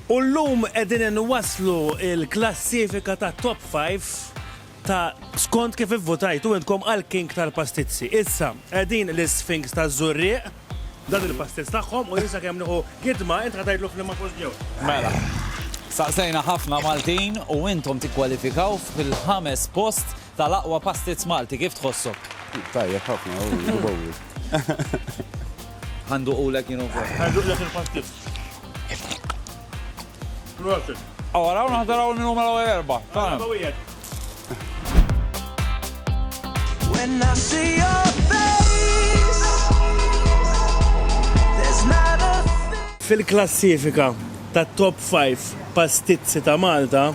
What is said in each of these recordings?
U llum qegħdin inwasslu l-klassifika tat-Top Five ta' skont kif ivvutajtu intkom għall-King tal-Pastizzi. Issa, qegħdin l-Isfinks taż-Żurrieq, dan il-pastizz tagħhom u jien sakemm nieħu gidma int ħa tgħidlu f'liema post ġew. Mela, staqsejna ħafna Maltin u intom tikkwalifikaw fil-ħames post Tal-aqwa pastizz Malti, kif tħossok? Tajjeb ħafna, hu jgħobu. Ħa nduqulek jien ukoll. Ħa nduqlek il-pastizz. Prosit. Aw araw naħdar hawn minn huma l-ewwel erba'. Tagħna. When I see your face There's not a thing Fil-klassifika tat-top 5 pastizzi ta' Malta,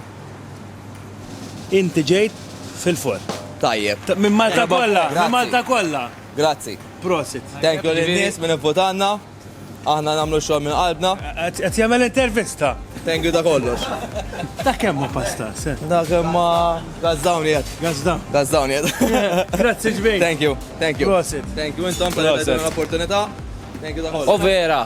Inti ġejt fil-forn. Tajjeb. Minn Malta kollha, minn Malta kollha. Grazzi. Prosit. Thank you lin-nies minn ivvutanna. Aħna nagħmlu x-xogħol minn qalbna. Qed jagħmel intervista. Thank you ta' kollox. Ta' kemm hu pasta? Ta' kemm ma gażżawni qed. Gażżaw. Gażżawni qed. Grazzi ġmiel. Thank you. Thank you. Prosit. Thank you intom tal-li tajtuna l-opportunità. Thank you ta' kollox. Overa.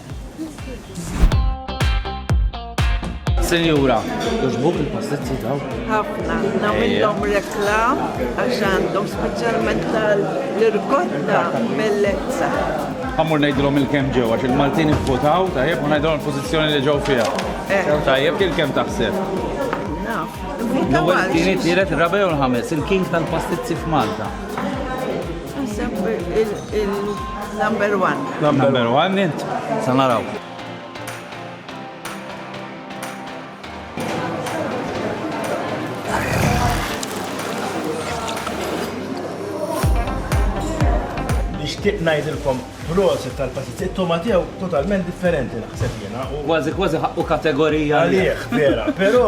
Senjura, tuġbuk il-postizzji daw? Ħafna, namillom reklam għax għandhom speċjalment tal-irkotta bellezza. Għamur najdrom il-kem ġew, għax il-Maltin votaw, tajjeb, u najdrom il-pozizjoni li ġew fija. Eh. Tajjeb, kien kem taħseb? Naf. L-ewwel kienet tielet rabew l-ħames, il-king tal-pastizzi f'Malta. Number one. Number one, int. Sanaraw. nixtieq ngħidilkom prosi tal-passiz. It-toma tiegħu totalment differenti naħseb jiena. Kważi kważi ħaqqu kategorija. Għalih, vera. Però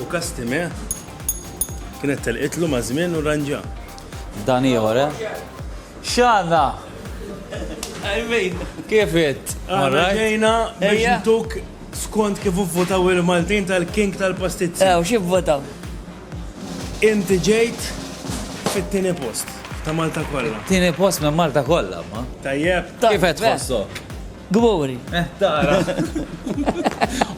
U Kastime kienet telqitlu ma' żmien u ranġa. Dan ieħor, eh? X'għandna? Kif it? Għandna ġejna biex ntuk skont kif ivvotaw il-Maltin tal-King tal-Pastizzi. Ew, xi vvotaw? Inti ġejt fit-tieni post ta' Malta kollha. Tieni post minn Malta kollha, ma? Tajjeb. Kif qed tħossok? Gburi. Eh, tara.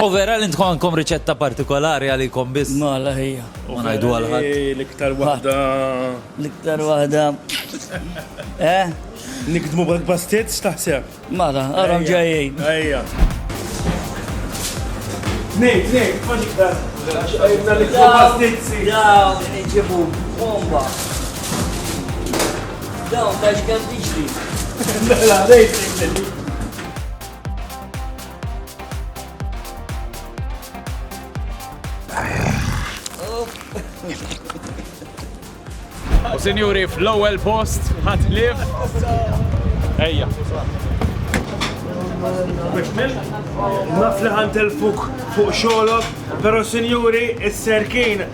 U vera li ntkom għandkom riċetta partikolari għalikom biss. Ma la ħija. U ngħidu għal ħadd. L-iktar waħda. L-iktar waħda. Eh? Nikdmu bak bastiet x'taħseb? Mara, għaram ġejjin. Ejja. Nej, nej, ma niktar. Għajna l-iktar bastiet. Ja, nġibu bomba. Dawn ta' x'kemm tiġri. Mela, rejting U sinjuri fl-ewwel post ħadd lif. Ejja. Naf li ħantilfuk fuq xogħolok, però sinjuri is-serkin